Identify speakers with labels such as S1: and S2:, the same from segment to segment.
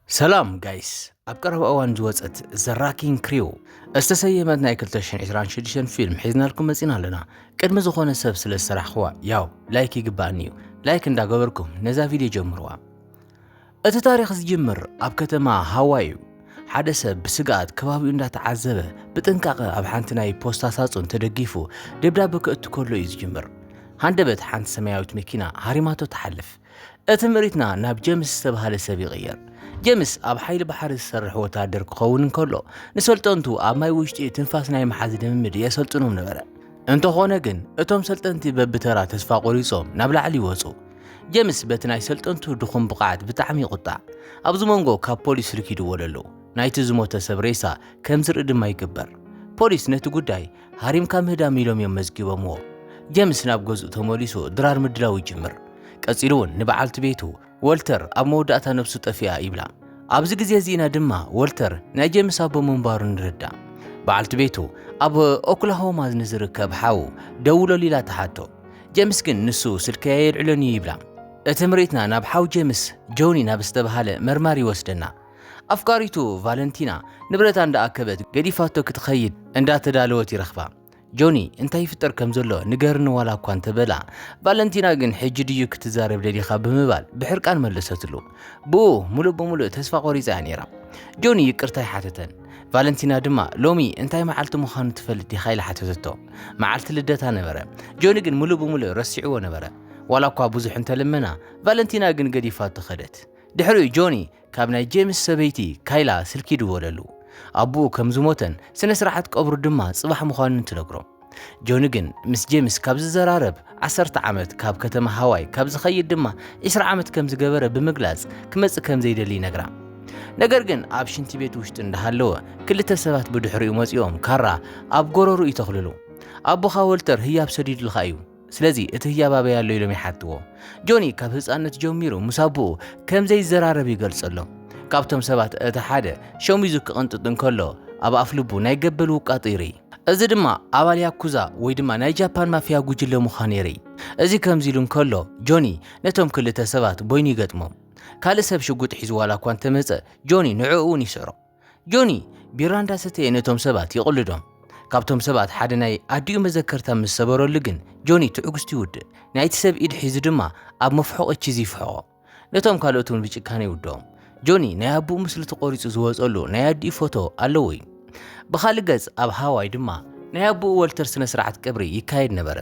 S1: ሰላም ጋይስ ኣብ ቀረባ እዋን ዝወፀት ዘራኪን ክሪው እዝተሰየመት ናይ 226 ፊልም ሒዝናልኩም መፂና ኣለና ቅድሚ ዝኾነ ሰብ ስለ ዝሰራሕኽዋ ያው ላይክ ይግባእኒ እዩ ላይክ እንዳገበርኩም ነዛ ቪድዮ ጀምርዋ እቲ ታሪክ ዝጅምር ኣብ ከተማ ሃዋይ እዩ ሓደ ሰብ ብስግኣት ከባቢኡ እንዳተዓዘበ ብጥንቃቐ ኣብ ሓንቲ ናይ ፖስታ ሳጹን ተደጊፉ ደብዳበ ከእቱ ከሎ እዩ ዝጅምር ሃንደበት ሓንቲ ሰማያዊት መኪና ሃሪማቶ ትሓልፍ እቲ ምሪትና ናብ ጀምስ ዝተባህለ ሰብ ይቕየር። ጀምስ ኣብ ሓይሊ ባሕሪ ዝሰርሕ ወታደር ክኸውን እንከሎ ንሰልጠንቱ ኣብ ማይ ውሽጢ ትንፋስ ናይ መሓዝ ልምምድ የሰልጥኖም ነበረ። እንተኾነ ግን እቶም ሰልጠንቲ በብተራ ተስፋ ቆሪጾም ናብ ላዕሊ ይወጹ። ጀምስ በቲ ናይ ሰልጠንቱ ድኹም ብቕዓት ብጣዕሚ ይቑጣዕ። ኣብዚ መንጎ ካብ ፖሊስ ርኪድዎ ለሎ ናይቲ ዝሞተ ሰብ ሬሳ ከም ዝርኢ ድማ ይግበር። ፖሊስ ነቲ ጉዳይ ሃሪምካ ምህዳም ኢሎም እዮም መዝጊቦምዎ። ጀምስ ናብ ገዝኡ ተመሊሱ ድራር ምድላው ይጅምር። ቀጺሉ እውን ንበዓልቲ ቤቱ ወልተር ኣብ መወዳእታ ነብሱ ጠፊኣ ይብላ። ኣብዚ ግዜ እዚ ኢና ድማ ወልተር ናይ ጀምስ ኣቦ ምንባሩ ንርዳእ። በዓልቲ ቤቱ ኣብ ኦክላሆማ ንዝርከብ ሓው ደውለሉ ኢላ ትሓቶ። ጀምስ ግን ንሱ ስልከይ ኣየልዕሎን እዩ ይብላ። እቲ ምርኢትና ናብ ሓው ጀምስ ጆኒ ናብ ዝተበሃለ መርማሪ ይወስደና። ኣፍቃሪቱ ቫለንቲና ንብረታ እንዳኣከበት ገዲፋቶ ክትኸይድ እንዳተዳለወት ይረኽባ። ጆኒ እንታይ ይፍጠር ከም ዘሎ ንገርኒ ዋላ እኳ እንተበላ፣ ቫለንቲና ግን ሕጂ ድዩ ክትዛረብ ደሊኻ ብምባል ብሕርቃን መለሰትሉ። ብኡ ሙሉእ ብምሉእ ተስፋ ቆሪጻ እያ ነይራ። ጆኒ ይቅርታ ይሓተተን። ቫለንቲና ድማ ሎሚ እንታይ መዓልቲ ምዃኑ ትፈልጥ ዲኻ ኢላ ሓተተቶ። መዓልቲ ልደታ ነበረ። ጆኒ ግን ሙሉእ ብምሉእ ረሲዕዎ ነበረ። ዋላ እኳ ብዙሕ እንተለመና፣ ቫለንቲና ግን ገዲፋቶ ከደት። ድሕሪኡ ጆኒ ካብ ናይ ጄምስ ሰበይቲ ካይላ ስልኪ ድወለሉ። ኣቡኡ ከም ዝሞተን ስነ ስርዓት ቀብሩ ድማ ጽባሕ ምዃኑን ትነግሮም። ጆኒ ግን ምስ ጄምስ ካብ ዝዘራረብ ዓሰርተ ዓመት ካብ ከተማ ሃዋይ ካብ ዝኸይድ ድማ ዕስራ ዓመት ከም ዝገበረ ብምግላጽ ክመጽእ ከም ዘይደሊ ይነግራ። ነገር ግን ኣብ ሽንቲ ቤት ውሽጢ እንዳሃለወ ክልተ ሰባት ብድሕሪኡ መጺኦም ካራ ኣብ ጎረርኡ ይተኽልሉ። ኣቦኻ ወልተር ህያብ ሰዲዱልካ እዩ። ስለዚ እቲ ህያብ ኣበይ ኣሎ ኢሎም ይሓትዎ። ጆኒ ካብ ህፃንነት ጀሚሩ ምስ ኣቦኡ ከም ዘይዘራረብ ይገልጸሎም። ካብቶም ሰባት እቲ ሓደ ሸሚዙ ክቕንጥጥ እንከሎ ኣብ ኣፍ ልቡ ናይ ገበል ውቃጦ ይርኢ። እዚ ድማ ኣባል ያኩዛ ወይ ድማ ናይ ጃፓን ማፍያ ጉጅለ ምዃኑ የርኢ። እዚ ከምዚ ኢሉ እንከሎ ጆኒ ነቶም ክልተ ሰባት በይኑ ይገጥሞም። ካልእ ሰብ ሽጉጥ ሒዙ ዋላ እኳ እንተመጸ ጆኒ ንዕኡ እውን ይስዕሮ። ጆኒ ቢራ እንዳሰተየ ነቶም ሰባት ይቕልዶም። ካብቶም ሰባት ሓደ ናይ ኣዲኡ መዘከርታ ምስ ሰበረሉ ግን ጆኒ ትዕግስቱ ይውድእ። ናይቲ ሰብ ኢድ ሒዙ ድማ ኣብ መፍሖቒ ቺዝ ይፍሕቖ። ነቶም ካልኦት እውን ብጭካነ ይውድኦም። ጆኒ ናይ ኣቡኡ ምስሊ ተቖሪጹ ዝወጸሉ ናይ ኣዲኡ ፎቶ ኣለዎ እዩ። ብኻልእ ገጽ ኣብ ሃዋይ ድማ ናይ ኣቡኡ ወልተር ስነ ስርዓት ቀብሪ ይካየድ ነበረ።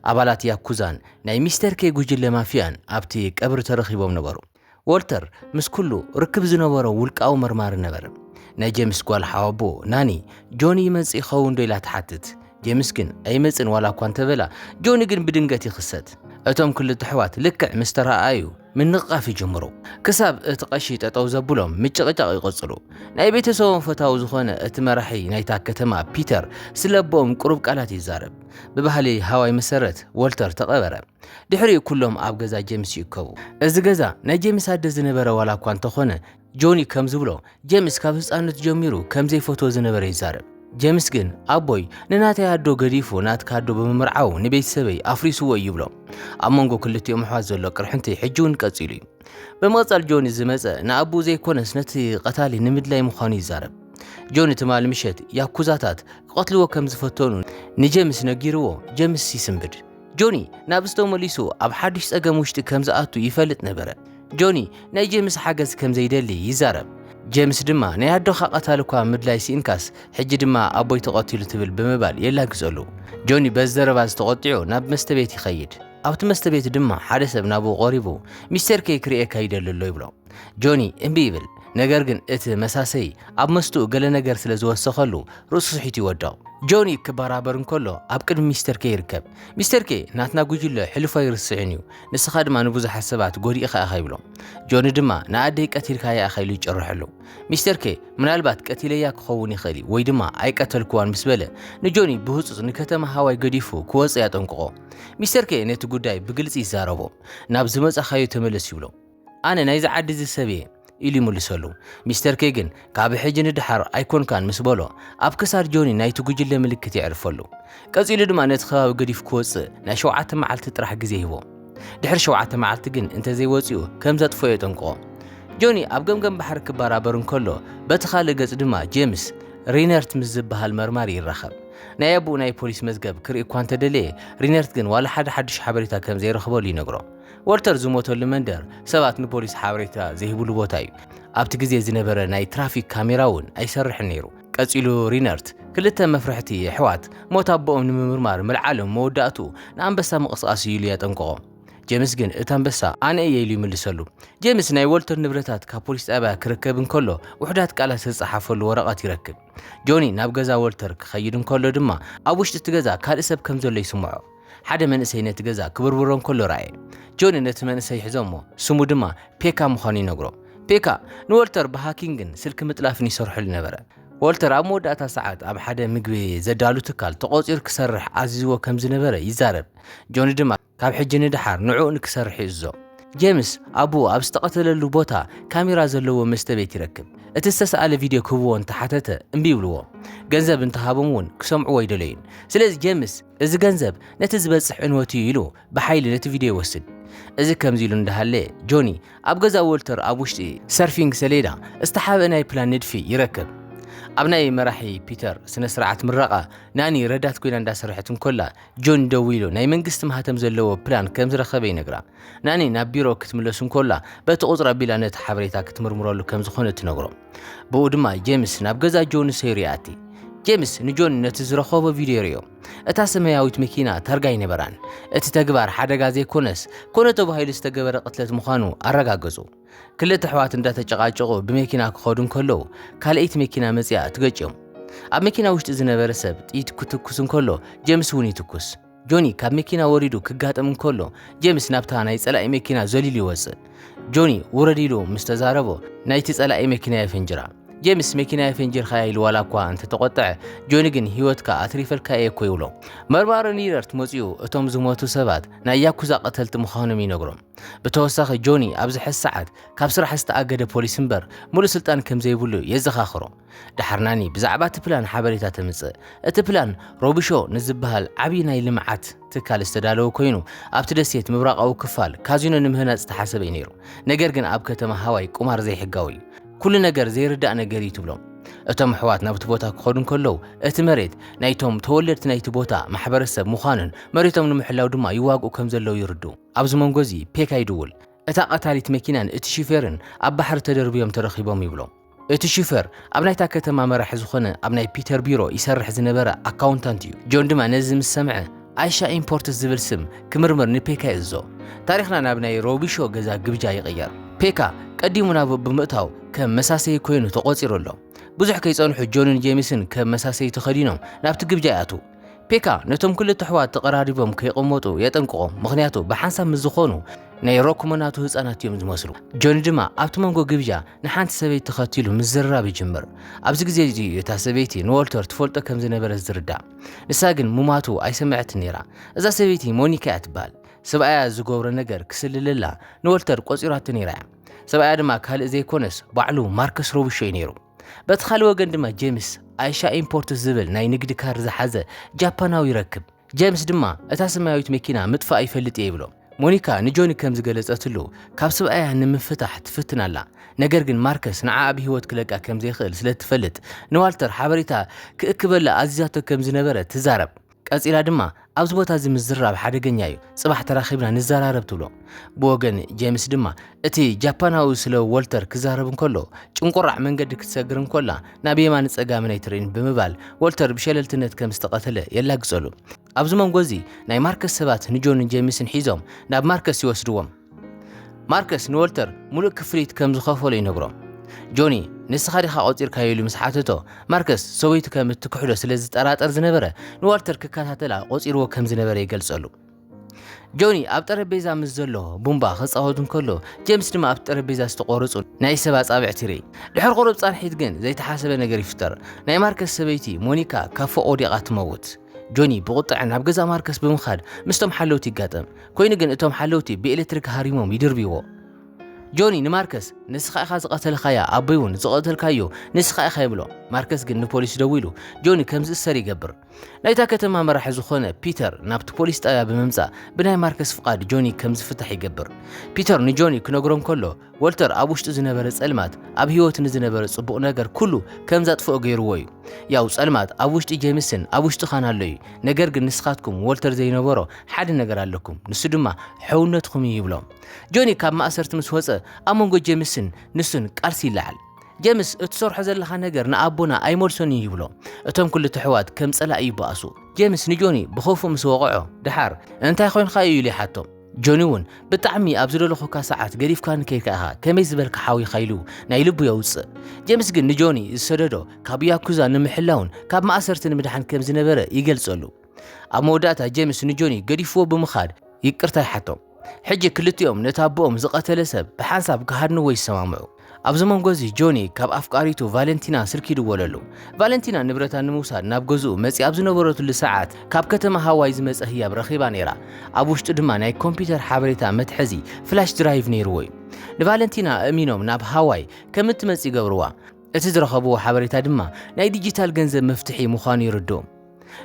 S1: ኣባላት ያኩዛን ናይ ሚስተር ኬይ ጉጅለ ማፍያን ኣብቲ ቀብሪ ተረኺቦም ነበሩ። ዎልተር ምስ ኩሉ ርክብ ዝነበሮ ውልቃዊ መርማሪ ነበረ። ናይ ጀምስ ጓል ሓወቦ ናኒ፣ ጆኒ ይመጽእ ይኸውንዶ ኢላ ትሓትት። ጀምስ ግን ኣይመጽእን ዋላ እኳ እንተበላ፣ ጆኒ ግን ብድንገት ይኽሰት። እቶም ክልተ ኣሕዋት ልክዕ ምስ ተረኣኣዩ ምንቕቓፍ ይጅምሩ። ክሳብ እቲ ቀሺ ጠጠው ዘብሎም ምጭቕጫቕ ይቕጽሉ። ናይ ቤተሰቦም ፈታዊ ዝኾነ እቲ መራሒ ናይታ ከተማ ፒተር ስለ ኣቦኦም ቅሩብ ቃላት ይዛረብ። ብባህሊ ሃዋይ መሰረት ዎልተር ተቐበረ። ድሕሪኡ ኩሎም ኣብ ገዛ ጀምስ ይእከቡ። እዚ ገዛ ናይ ጀምስ ኣደ ዝነበረ ዋላ እኳ እንተኾነ፣ ጆኒ ከም ዝብሎ ጀምስ ካብ ህጻንነቱ ጀሚሩ ከም ዘይፈትዎ ዝነበረ ይዛረብ። ጀምስ ግን ኣቦይ ንናተይ ኣዶ ገዲፉ ናትካ ኣዶ ብምምርዓዉ ንቤተሰበይ ኣፍሪስዎ እዩ ይብሎ። ኣብ መንጎ ክልቲኦም ኣሕዋት ዘሎ ቅርሕንቲ ሕጂ'ውን ቀጺሉ እዩ። ብምቕጻል ጆኒ ዝመጸ ንኣቦኡ ዘይኮነስ ነቲ ቀታሊ ንምድላይ ምዃኑ ይዛረብ። ጆኒ ትማሊ ምሸት ያኩዛታት ክቐትልዎ ከም ዝፈተኑ ንጀምስ ነጊርዎ ጀምስ ይስንብድ። ጆኒ ናብ ስቶ መሊሱ ኣብ ሓድሽ ጸገም ውሽጢ ከም ዝኣቱ ይፈልጥ ነበረ። ጆኒ ናይ ጀምስ ሓገዝ ከም ዘይደሊ ይዛረብ። ጀምስ ድማ ናይ ኣዶኻ ቀታሊ እኳ ምድላይ ስኢንካስ ሕጂ ድማ ኣቦይ ተቐቲሉ ትብል ብምባል የላግጸሉ። ጆኒ በዚ ዘረባ እዚ ተቖጢዑ ናብ መስተ ቤት ይኸይድ። ኣብቲ መስተ ቤት ድማ ሓደ ሰብ ናብኡ ቀሪቡ ሚስተር ኬይ ክርእየካ ይደሊ ኣሎ ይብሎ። ጆኒ እምቢ ይብል፣ ነገር ግን እቲ መሳሰዪ ኣብ መስትኡ ገለ ነገር ስለ ዝወሰኸሉ ርእሱ ስሒቱ ይወድቕ። ጆኒ ክበራበር እንከሎ ኣብ ቅድሚ ሚስተር ኬይ ይርከብ። ሚስተር ኬይ ናትና ጉጅለ ሕሉፉ ኣይርስዕን እዩ፣ ንስኻ ድማ ንብዙሓት ሰባት ጎዲእኻ ኢኻ ይብሎ። ጆኒ ድማ ንኣደይ ቀቲልካያ ኢኻ ኢሉ ይጭርሐሉ። ሚስተር ኬይ ምናልባት ቀቲለያ ክኸውን ይኽእል እዩ ወይ ድማ ኣይቀተልክዋን ምስ በለ ንጆኒ ብህጹጽ ንከተማ ሃዋይ ገዲፉ ክወጽእ ያጠንቅቖ። ሚስተር ኬይ ነቲ ጉዳይ ብግልጺ ይዛረቦ፣ ናብ ዝመጻኻዮ ተመለስ ይብሎ። ኣነ ናይዚ ዓዲ እዚ ሰብ እየ ኢሉ ይምልሰሉ። ሚስተር ኬይ ግን ካብ ሕጂ ንደሓር ኣይኮንካን ምስ በሎ፣ ኣብ ክሳድ ጆኒ ናይቲ ጉጅለ ምልክት የዕርፈሉ። ቀጺሉ ድማ ነቲ ከባቢ ገዲፉ ክወጽእ ናይ ሸውዓተ መዓልቲ ጥራሕ ግዜ ይህቦ። ድሕሪ ሸውዓተ መዓልቲ ግን እንተዘይወጺኡ ከም ዘጥፍኦ የጠንቅቖ። ጆኒ ኣብ ገምገም ባሕሪ ክበራበር እንከሎ፣ በቲ ካልእ ገጽ ድማ ጄምስ ሪነርት ምስ ዝበሃል መርማሪ ይራኸብ። ናይ ኣቡኡ ናይ ፖሊስ መዝገብ ክርኢ እኳ እንተደለየ፣ ሪነርት ግን ዋላ ሓደ ሓድሽ ሓበሬታ ከም ዘይረኽበሉ ይነግሮ። ወልተር ዝሞተሉ መንደር ሰባት ንፖሊስ ሓበሬታ ዘይህብሉ ቦታ እዩ። ኣብቲ ግዜ ዝነበረ ናይ ትራፊክ ካሜራ እውን ኣይሰርሕን ነይሩ። ቀጺሉ ሪነርት፣ ክልተ መፍርሕቲ ኣሕዋት ሞት ኣቦኦም ንምምርማር ምልዓሎም መወዳእትኡ ንኣንበሳ ምቕስቓስ እዩ ኢሉ የጠንቅቖም። ጀምስ ግን እቲ ኣንበሳ ኣነ እየ ኢሉ ይምልሰሉ። ጀምስ ናይ ወልተር ንብረታት ካብ ፖሊስ ጣብያ ክረከብ እንከሎ ውሑዳት ቃላት ዝተጸሓፈሉ ወረቐት ይረክብ። ጆኒ ናብ ገዛ ወልተር ክኸይድ እንከሎ ድማ ኣብ ውሽጢ እቲ ገዛ ካልእ ሰብ ከም ዘሎ ይስምዖ። ሓደ መንእሰይ ነቲ ገዛ ክብርብሮ እንከሎ ረኣየ። ጆኒ ነቲ መንእሰይ ሒዞሞ፣ ስሙ ድማ ፔካ ምዃኑ ይነግሮ። ፔካ ንዎልተር ብሃኪንግን ስልኪ ምጥላፍን ይሰርሐሉ ነበረ። ዎልተር ኣብ መወዳእታ ሰዓት ኣብ ሓደ ምግቢ ዘዳሉ ትካል ተቖጺሩ ክሰርሕ ኣዚዝዎ ከም ዝነበረ ይዛረብ፣ ጆኒ ድማ ካብ ሕጂ ንደሓር ንዕኡ ንክሰርሕ ይእዝዞ። ጄምስ ኣቦኡ ኣብ ዝተቐተለሉ ቦታ ካሜራ ዘለዎ መስተቤት ይረክብ። እቲ ዝተሳእለ ቪድዮ ክህብዎ እንተሓተተ እምቢ ይብልዎ። ገንዘብ እንተሃቦም እውን ክሰምዕዎ ኣይደለዩን። ስለዚ ጄምስ። እዚ ገንዘብ ነቲ ዝበጽሕ ዕንወት እዩ ኢሉ ብሓይሊ ነቲ ቪድዮ ይወስድ። እዚ ከምዚ ኢሉ እንዳሃለየ፣ ጆኒ ኣብ ገዛ ዎልተር ኣብ ውሽጢ ሰርፊንግ ሰሌዳ ዝተሓብአ ናይ ፕላን ንድፊ ይረክብ። ኣብ ናይ መራሒ ፒተር ስነ-ስርዓት ምረቓ፣ ናኒ ረዳት ኮይና እንዳሰርሐት እንኮላ፣ ጆኒ ደዊሉ ናይ መንግስቲ ማህተም ዘለዎ ፕላን ከምዝረኸበ ይነግራ። ናኒ ናብ ቢሮ ክትምለስ እንኮላ፣ በቲ ቁጽሪ ኣቢላ ነቲ ሓበሬታ ክትምርምረሉ ከምዝኾነት ትነግሮ። ብኡ ድማ ጄምስ ናብ ገዛ ጆኒ ሰይሩ ይኣቲ። ጄምስ ንጆኒ ነቲ ዝረኸቦ ቪድዮ ርዮ። እታ ሰማያዊት መኪና ታርጋ ኣይነበራን። እቲ ተግባር ሓደጋ ዘይኮነስ ኮነ ተባሂሉ ዝተገበረ ቅትለት ምዃኑ ኣረጋገጹ። ክልተ ኣሕዋት እንዳተጨቃጨቁ ብመኪና ክኸዱ እንከለዉ ካልኣይቲ መኪና መጺኣ ትገጭዮም። ኣብ መኪና ውሽጢ ዝነበረ ሰብ ጥይት ክትኩስ እንከሎ ጀምስ እውን ይትኩስ። ጆኒ ካብ መኪና ወሪዱ ክጋጥም እንከሎ ጄምስ ናብታ ናይ ጸላኢ መኪና ዘሊሉ ይወጽእ። ጆኒ ውረድ ኢሉ ምስ ተዛረቦ ናይቲ ጸላኢ መኪና የፈንጅራ። ጄምስ መኪና የፈንጅርካያ ኢሉ ዋላ እኳ እንተተቖጥዐ ጆኒ ግን ህይወትካ ኣትሪፈልካ እየ እኮ ይብሎ። መርማሪ ኒረርት መጺኡ እቶም ዝሞቱ ሰባት ናይ ያኩዛ ቀተልቲ ምዃኖም ይነግሮም። ብተወሳኺ ጆኒ ኣብ ዝሐዚ ሰዓት ካብ ስራሕ ዝተኣገደ ፖሊስ እምበር ሙሉእ ስልጣን ከምዘይብሉ የዘኻኽሮ። ዳሕርናኒ ብዛዕባ እቲ ፕላን ሓበሬታ ተምጽእ። እቲ ፕላን ሮቢሾ ንዝበሃል ዓብዪ ናይ ልምዓት ትካል ዝተዳለወ ኮይኑ ኣብቲ ደሴት ምብራቓዊ ክፋል ካዚኖ ንምህናጽ ዝተሓሰበ እዩ ነይሩ። ነገር ግን ኣብ ከተማ ሃዋይ ቁማር ዘይሕጋዊ እዩ። ኩሉ ነገር ዘይርዳእ ነገር እዩ ትብሎም። እቶም ኣሕዋት ናብቲ ቦታ ክኸዱ እንከለዉ እቲ መሬት ናይቶም ተወለድቲ ናይቲ ቦታ ማሕበረሰብ ምዃኑን መሬቶም ንምሕላው ድማ ይዋግኡ ከም ዘለዉ ይርድኡ። ኣብዚ መንጎ እዚ ፔካ ይድውል። እታ ቀታሊት መኪናን እቲ ሹፌርን ኣብ ባሕሪ ተደርብዮም ተረኺቦም ይብሎም። እቲ ሽፈር ኣብ ናይታ ከተማ መራሒ ዝኾነ ኣብ ናይ ፒተር ቢሮ ይሰርሕ ዝነበረ ኣካውንታንት እዩ። ጆን ድማ ነዚ ምስ ሰምዐ ኣይሻ ኢምፖርትስ ዝብል ስም ክምርምር ንፔካ ይእዝዞ። ታሪኽና ናብ ናይ ሮቢሾ ገዛ ግብጃ ይቕየር። ፔካ ቀዲሙ ናብኡ ብምእታው ከም መሳሰዪ ኮይኑ ተቖጺሩ ኣሎ። ብዙሕ ከይጸንሑ ጆንን ጄምስን ከም መሳሰዪ ተኸዲኖም ናብቲ ግብጃ ይኣትዉ። ፔካ ነቶም ክልተ ኣሕዋት ተቐራሪቦም ከይቐመጡ የጠንቅቖም፣ ምኽንያቱ ብሓንሳብ ምስ ዝኾኑ ናይ ሮክሞናቱ ህጻናት እዮም ዝመስሉ። ጆኒ ድማ ኣብቲ መንጎ ግብዣ ንሓንቲ ሰበይቲ ተኸቲሉ ምዝርራብ ይጅምር። ኣብዚ ግዜ እዚ እዩ እታ ሰበይቲ ንዎልተር ትፈልጦ ከም ዝነበረት ዝርዳእ። ንሳ ግን ሙማቱ ኣይሰመዐትን ነይራ። እዛ ሰበይቲ ሞኒካ እያ ትበሃል። ሰብኣያ ዝገብሮ ነገር ክስልለላ ንዎልተር ቆጺራቶ ነይራ እያ። ሰብኣያ ድማ ካልእ ዘይኮነስ ባዕሉ ማርከስ ሮብሾ እዩ ነይሩ። በቲ ካልእ ወገን ድማ ጀምስ ኣይሻ ኢምፖርት ዝብል ናይ ንግዲ ካርድ ዝሓዘ ጃፓናዊ ይረክብ። ጀምስ ድማ እታ ሰማያዊት መኪና ምጥፋእ ይፈልጥ እየ ይብሎ። ሞኒካ ንጆኒ ከም ዝገለጸትሉ ካብ ስብኣያ ንምፍታሕ ትፍትን ኣላ፣ ነገር ግን ማርከስ ንዓኣ ብህይወት ክለቃ ከም ዘይክእል ስለ እትፈልጥ ንዋልተር ሓበሬታ ክእክበላ ኣዚዛቶ ከም ዝነበረ ትዛረብ። ቀጺላ ድማ ኣብዚ ቦታ እዚ ምዝራብ ሓደገኛ እዩ፣ ጽባሕ ተራኺብና ንዘራረብ ትብሎ። ብወገን ጀምስ ድማ እቲ ጃፓናዊ ስለ ዎልተር ክዛረብ እንከሎ ጭንቁራዕ መንገዲ ክትሰግር እንኮላ ናብ የማንን ጸጋምን ኣይትርእን ብምባል ዎልተር ብሸለልትነት ከም ዝተቐተለ የላግጸሉ። ኣብዚ መንጎ እዚ ናይ ማርከስ ሰባት ንጆንን ጀምስን ሒዞም ናብ ማርከስ ይወስድዎም። ማርከስ ንወልተር ምሉእ ክፍሊት ከም ዝኸፈሎ ይነግሮ። ጆኒ ንስኻ ዲኻ ቆጺርካዮ ኢሉ ምስ ሓተቶ፣ ማርከስ ሰበይቱ ከም እትክሕዶ ስለ ዝጠራጠር ዝነበረ ንዋልተር ክከታተላ ቆጺርዎ ከም ዝነበረ ይገልጸሉ። ጆኒ ኣብ ጠረጴዛ ምስ ዘሎ ቡምባ ክጻወት እንከሎ ጀምስ ድማ ኣብቲ ጠረጴዛ ዝተቖረጹ ናይ ሰብ ኣጻብዕቲ ይርኢ። ድሕሪ ቁሩብ ጻንሒት ግን ዘይተሓሰበ ነገር ይፍጠር። ናይ ማርከስ ሰበይቲ ሞኒካ ካብ ፎቕ ወዲቓ ትመውት። ጆኒ ብቑጥዐ ናብ ገዛ ማርከስ ብምኻድ ምስቶም ሓለውቲ ይጋጠም። ኮይኑ ግን እቶም ሓለውቲ ብኤለትሪክ ሃሪሞም ይድርብይዎ። ጆኒ ንማርከስ ንስኻ ኢኻ ዝቐተልኻያ፣ ኣቦይ እውን ዝቐተልካዮ ንስኻ ኢኻ ይብሎ። ማርከስ ግን ንፖሊስ ደዊሉ ጆኒ ከም ዝእሰር ይገብር። ናይታ ከተማ መራሒ ዝኾነ ፒተር ናብቲ ፖሊስ ጣብያ ብምምጻእ ብናይ ማርከስ ፍቓድ ጆኒ ከም ዝፍታሕ ይገብር። ፒተር ንጆኒ ክነግሮ እንከሎ፣ ወልተር ኣብ ውሽጡ ዝነበረ ጸልማት ኣብ ህይወቱ ንዝነበረ ጽቡቕ ነገር ኩሉ ከም ዘጥፍኦ ገይርዎ እዩ። ያው ጸልማት ኣብ ውሽጢ ጄምስን ኣብ ውሽጥኻን ኣሎ እዩ፣ ነገር ግን ንስኻትኩም ወልተር ዘይነበሮ ሓደ ነገር ኣለኩም፣ ንሱ ድማ ሕውነትኩም እዩ ይብሎም። ጆኒ ካብ ማእሰርቲ ምስ ወጸ ኣብ መንጎ ጄምስን ንሱን ቃልሲ ይለዓል። ጀምስ እትሰርሖ ዘለኻ ነገር ንኣቦና ኣይመልሶን እዩ ይብሎ። እቶም ክልተ ኣሕዋት ከም ጸላኢ ይበኣሱ። ጀምስ ንጆኒ ብኸፉእ ምስ ወቐዖ ደሓር እንታይ ኮይንካ እዩ ኢሉ ይሓቶም። ጆኒ እውን ብጣዕሚ ኣብ ዝደለኹካ ሰዓት ገዲፍካኒ ከይድካ ኢኻ ከመይ ዝበልካ ሓዊኻ ኢሉ ናይ ልቡ የውፅእ ጀምስ ግን ንጆኒ ዝሰደዶ ካብ ያኩዛ ንምሕላውን ካብ ማእሰርቲ ንምድሓን ከም ዝነበረ ይገልጸሉ ኣብ መወዳእታ ጀምስ ንጆኒ ገዲፍዎ ብምኻድ ይቅርታ ይሓቶም ሕጂ ክልቲኦም ነቲ ኣቦኦም ዝቐተለ ሰብ ብሓንሳብ ክሃድንዎ ይሰማምዑ ኣብዚ መንጎ እዚ ጆኒ ካብ ኣፍቃሪቱ ቫለንቲና ስልኪ ይድወለሉ። ቫለንቲና ንብረታ ንምውሳድ ናብ ገዝኡ መጺኣ ኣብ ዝነበረትሉ ሰዓት ካብ ከተማ ሃዋይ ዝመጸ ህያብ ረኺባ ነይራ። ኣብ ውሽጡ ድማ ናይ ኮምፒተር ሓበሬታ መትሐዚ ፍላሽ ድራይቭ ነይርዎ እዩ። ንቫለንቲና ኣእሚኖም ናብ ሃዋይ ከም እትመጽእ ይገብርዋ። እቲ ዝረኸብዎ ሓበሬታ ድማ ናይ ዲጂታል ገንዘብ መፍትሒ ምዃኑ የረድኦም።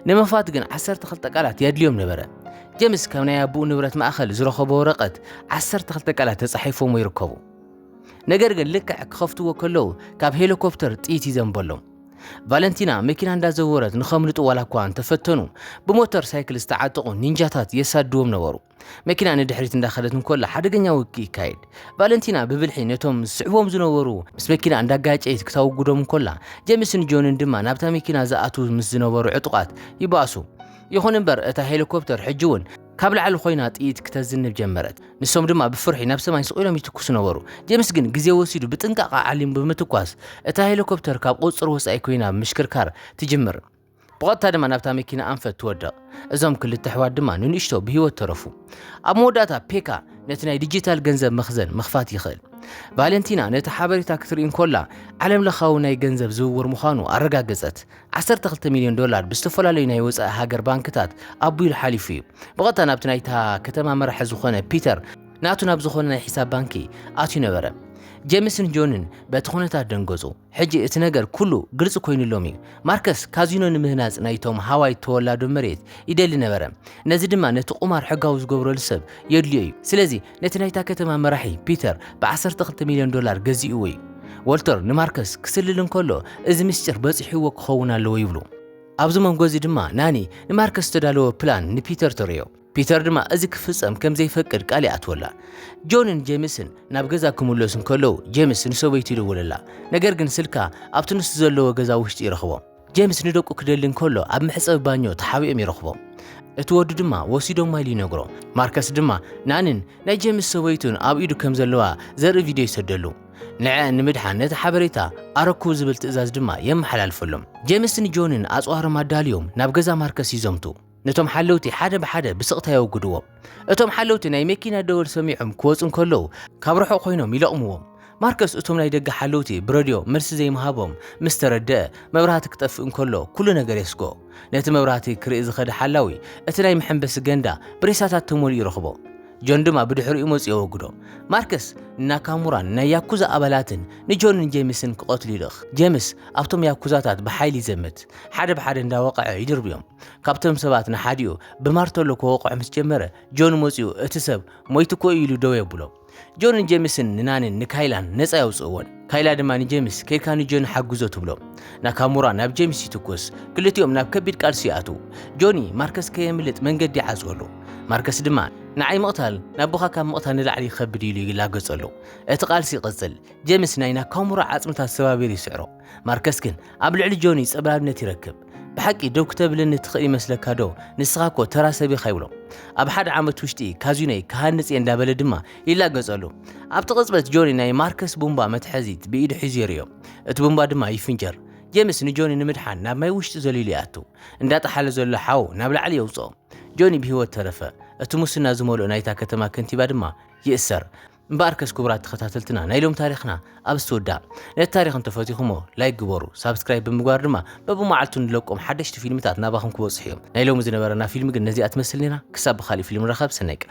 S1: ንምኽፋት ግን ዓሰርተ ክልተ ቃላት የድልዮም ነበረ። ጀምስ ካብ ናይ ኣቦኡ ንብረት ማእከል ዝረኸቦ ወረቐት ዓሰርተ ክልተ ቃላት ተጻሒፎምዎ ይርከቡ። ነገር ግን ልክዕ ክኸፍትዎ ከለዉ ካብ ሄሊኮፕተር ጥይት ይዘንበሎም። ቫለንቲና መኪና እንዳዘወረት ንኸምልጡ ዋላ እኳ እንተፈተኑ ብሞተር ሳይክል ዝተዓጠቑ ኒንጃታት የሳድዎም ነበሩ። መኪና ንድሕሪት እንዳኸደት እንኮላ ሓደገኛ ውግእ ይካየድ። ቫለንቲና ብብልሒ ነቶም ዝስዕቦም ዝነበሩ ምስ መኪና እንዳጋጨየት ክተውግዶም እንኮላ ጀምስን ጆንን ድማ ናብታ መኪና ዝኣትዉ ምስ ዝነበሩ ዕጡቓት ይባእሱ። ይኹን እምበር እታ ሄሊኮፕተር ሕጂ እውን ካብ ላዕሊ ኮይና ጥይት ክተዝንብ ጀመረት። ንሶም ድማ ብፍርሒ ናብ ሰማይ ስቕ ኢሎም ይትኩሱ ነበሩ። ጀምስ ግን ግዜ ወሲዱ ብጥንቃቐ ዓሊሙ ብምትኳስ እታ ሄሊኮፕተር ካብ ቁጽጽር ወጻኢ ኮይና ምሽክርካር ትጅምር። ብቐጥታ ድማ ናብታ መኪና ኣንፈት ትወድቕ። እዞም ክልተ ኣሕዋት ድማ ንንእሽቶ ብህይወት ተረፉ። ኣብ መወዳእታ ፔካ ነቲ ናይ ዲጂታል ገንዘብ መኽዘን ምኽፋት ይኽእል። ቫለንቲና ነቲ ሓበሬታ ክትርኢ እንኮላ ዓለም ለኻዊ ናይ ገንዘብ ዝውውር ምዃኑ ኣረጋገጸት። ዓሰርተ ክልተ ሚልዮን ዶላር ብዝተፈላለዩ ናይ ወጻኢ ሃገር ባንክታት ኣቡሉ ሓሊፉ እዩ። ብቐጥታ ናብቲ ናይታ ከተማ መራሒ ዝኾነ ፒተር ናቱ ናብ ዝኾነ ናይ ሒሳብ ባንኪ ኣትዩ ነበረ። ጀምስን ጆንን በቲ ኩነታት ደንገጹ። ሕጂ እቲ ነገር ኩሉ ግልጺ ኮይኑሎም እዩ። ማርከስ ካዚኖ ንምህናጽ ናይቶም ሃዋይ ተወላዶ መሬት ይደሊ ነበረ። ነዚ ድማ ነቲ ቁማር ሕጋዊ ዝገብረሉ ሰብ የድልዮ እዩ። ስለዚ ነቲ ናይታ ከተማ መራሒ ፒተር ብዓሰርተ ክልተ ሚልዮን ዶላር ገዚእዎ እዩ። ዎልተር ንማርከስ ክስልል እንከሎ እዚ ምስጢር በጺሕዎ ክኸውን ኣለዎ ይብሉ። ኣብዚ መንጎ እዚ ድማ ናኒ ንማርከስ ዝተዳለወ ፕላን ንፒተር ተርእዮ። ፒተር ድማ እዚ ክፍጸም ከም ዘይፈቅድ ቃል ይኣትወላ። ጆንን ጄምስን ናብ ገዛ ክምለሱ እንከለዉ ጄምስ ንሰበይቱ ይድውለላ። ነገር ግን ስልካ ኣብቲ ንሱ ዘለዎ ገዛ ውሽጢ ይረኽቦ። ጀምስ ንደቁ ክደሊ እንከሎ ኣብ መሕጸቢ ባኞ ተሓቢኦም ይረኽቦም። እቲ ወዱ ድማ ወሲዶማ ኢሉ ይነግሮ። ማርከስ ድማ ንኣንን ናይ ጀምስ ሰበይቱን ኣብ ኢዱ ከም ዘለዋ ዘርኢ ቪድዮ ይሰደሉ። ንዐኣን ንምድሓን ነቲ ሓበሬታ ኣረክቡ ዝብል ትእዛዝ ድማ የመሓላልፈሎም። ጀምስ ንጆንን ኣጽዋሮም ኣዳልዮም ናብ ገዛ ማርከስ ይዘምቱ። ነቶም ሓለውቲ ሓደ ብሓደ ብስቕታ የወግድዎም። እቶም ሓለውቲ ናይ መኪና ደወል ሰሚዖም ክወጹ እንከለዉ ካብ ርሑቕ ኮይኖም ይለቕምዎም። ማርከስ እቶም ናይ ደገ ሓለውቲ ብረድዮ መልሲ ዘይምሃቦም ምስ ተረድአ መብራህቲ ክጠፍእ እንከሎ ኩሉ ነገር የስግኦ። ነቲ መብራህቲ ክርኢ ዝኸደ ሓላዊ እቲ ናይ መሐንበሲ ገንዳ ብሬሳታት ተመሊኡ ረኽቦ። ጆን ድማ ብድሕሪኡ መጺኡ የወግዶ። ማርከስ ንናካሙራን ናይ ያኩዛ ኣባላትን ንጆንን ጄምስን ክቐትሉ ይልእኽ። ጄምስ ኣብቶም ያኩዛታት ብሓይሊ ይዘምት። ሓደ ብሓደ እንዳወቐዐ ይድርብዮም። ካብቶም ሰባት ንሓዲኡ ብማርተሎ ክወቕዖ ምስ ጀመረ ጆን መጺኡ እቲ ሰብ ሞይቱ እኮ እዩ ኢሉ ደው የብሎ ጆን ንጀምስን ንናንን ንካይላን ነፃ የውፅእዎን ካይላ ድማ ንጀምስ ከይድካ ንጆን ሓግዞ ትብሎ ናካሙራ ናብ ጀምስ ይትኩስ ክልቲኦም ናብ ከቢድ ቃልሲ ይኣትዉ ጆኒ ማርከስ ከየምልጥ መንገዲ ይዓፅወሉ ማርከስ ድማ ንዓይ ምቕታል ናቦኻ ካብ ምቕታል ንላዕሊ ይኸብድ ኢሉ ይላገጸሉ እቲ ቃልሲ ይቕጽል ጀምስ ናይ ናካሙራ ዓጽምታት ሰባቢሩ ይስዕሮ ማርከስ ግን ኣብ ልዕሊ ጆኒ ጸብላልነት ይረክብ ብሓቂ ደው ክተብለኒ ትኽእል ይመስለካ ዶ ንስኻ እኮ ተራ ሰብ ኢኻ ይብሎ ኣብ ሓደ ዓመት ውሽጢ ካዚኖይ ክሃንፅ እየ እንዳበለ ድማ ይላገፀሉ ኣብቲ ቅፅበት ጆኒ ናይ ማርከስ ቡምባ መትሐዚት ብኢዱ ሒዙ የርእዮ እቲ ቡምባ ድማ ይፍንጀር ጀምስ ንጆኒ ንምድሓን ናብ ማይ ውሽጢ ዘሊሉ ይኣቱ እንዳጠሓለ ዘሎ ሓው ናብ ላዕሊ የውፅኦ ጆኒ ብሂወት ተረፈ እቲ ሙስና ዝመልኦ ናይታ ከተማ ከንቲባ ድማ ይእሰር እምበኣርከስ ክቡራት ተኸታተልትና ናይ ሎም ታሪኽና ኣብዚ ተወድኣ። ነቲ ታሪኽ እንተፈቲኹሞ ላይክ ግበሩ፣ ሳብስክራይብ ብምግባር ድማ በብመዓልቱ ንለቆም ሓደሽቲ ፊልምታት ናባኹም ክበጽሑ እዮም። ናይ ሎሚ ዝነበረና ፊልም ግን ነዚኣ ትመስል ኔራ፣ ክሳብ ብኻሊእ ፊልም ንራኸብ ሰናይ ቅነ።